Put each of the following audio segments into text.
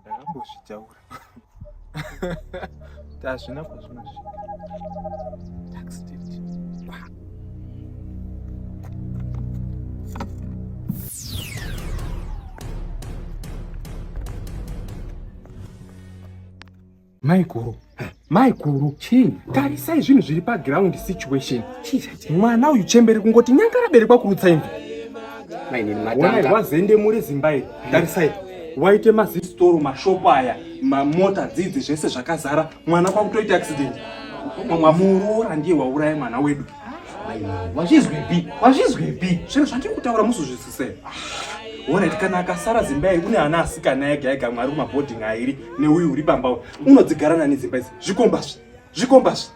ndakambozvitaura tazvina kwazvinosvika Maikuru, maikuru, chii? Tarisai zvinhu zviri paground situation. Mwana uyu chembere kungoti nyanga raberekwa kurutsa imvi. Wai wazende muri Zimbai. Hmm. Tarisai. Waite mazistoro mashopo aya, mamota dzidzi zvese zvakazara. Mwana kwakutoita accident. Mwamuroora ndiye wauraya mwana wedu. wazvizwipi wazvizwipi zvinhu zvandiri kutaura musuzvisise orit kana akasara zimba iyi une ana asikana ega ega mwari kumabhoding airi neuyu uri pamba uyu unodzigara nani zimba izi zvikombazvi zvikombazvi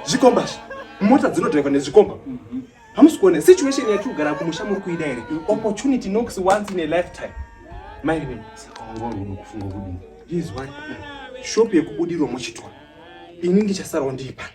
zvikombazvi mota dzinodhaiva nezvikomba hamusi kuona situation yati kugara kumusha muri kuida here opportunity nox once in a lifetime mairine kufunga kudii izwai shop yekubudirwa muchitwa ini ndichasarawo ndiipani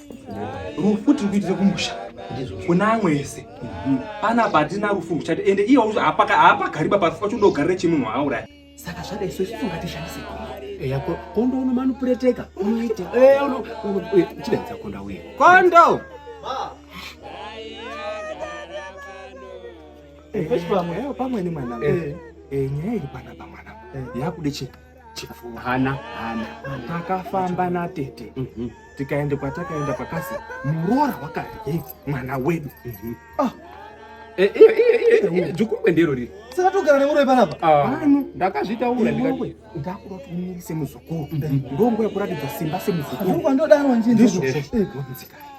rufu tiri kuitira kumusha kuna amwe ese pana patina rufu muchati ende iye haapagariba parufu pacho ndogarire chimunhu auraya saka zvada isu isu ngatishandise eya kondo uno manupureteka unoita chidaidza konda uye kondo pamwe nemwana nyaya iri panapa mwana yakude chii chipfuva hana hana takafamba natete mhm. tikaenda kwatakaenda pakazi muroora wakadye mwana wedu mhm. ah. eh, eh, eh, jukungwe ndiro riri saka togara nemuroyi panapa pano ah. ndakazvitaura ndikati ndakuda kuti umirise muzukuru mhm. ndongo yekuratidza simba semuzukuru ndodaro nzvindizvozvo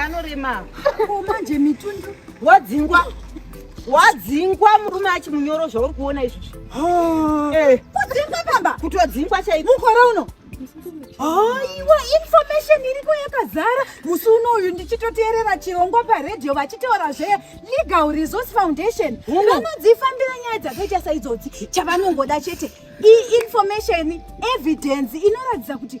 anorema manje mitundu wadzingwa wadzingwa murume achi munyoro zvauri kuona izvozvi eh. kudzingwa pamba kutodzingwa chaiko mukore uno aiwa information iriko yakazara musi uno uyu ndichitoteerera chirongwa paredio vachitaura zvee legal resource foundation vanodzifambira nyaya dzakaita saidzodzi chavanongoda chete iinformation evidence inoratidza kuti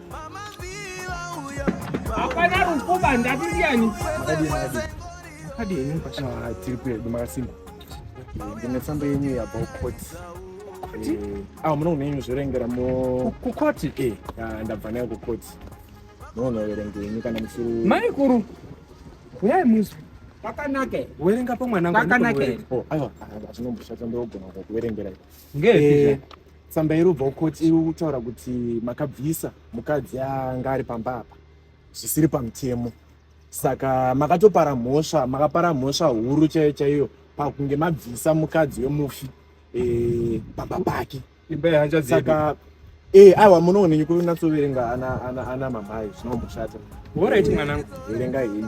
hapana rukuba ndati ndiyani ah, tiri kuedu makasimba ndine tsamba yenyu yabva ukoti eh, awo ah, munogona yenyu zvorengera kukoti eh, ah, ndabva nayo kukoti munonoverenga yenyu kana musiri maikuru uyai musi pakanake werenga pamwana pakanake aiwa hazvinomboshata ndogona kuverengera ngei Tsamba iri kubva kukoti iri kutaura kuti makabvisa mukadzi anga ari pamba apa zvisiri pamutemo saka makatopara mhosva makapara mhosva huru chaiyo chaiyo pakunge mabvisa mukadzi wemufi eh, pamba pake saka eh, aiwa munoonenyi kunatsoverenga ana mamai zvinomboshata orit mwanangu verenga heni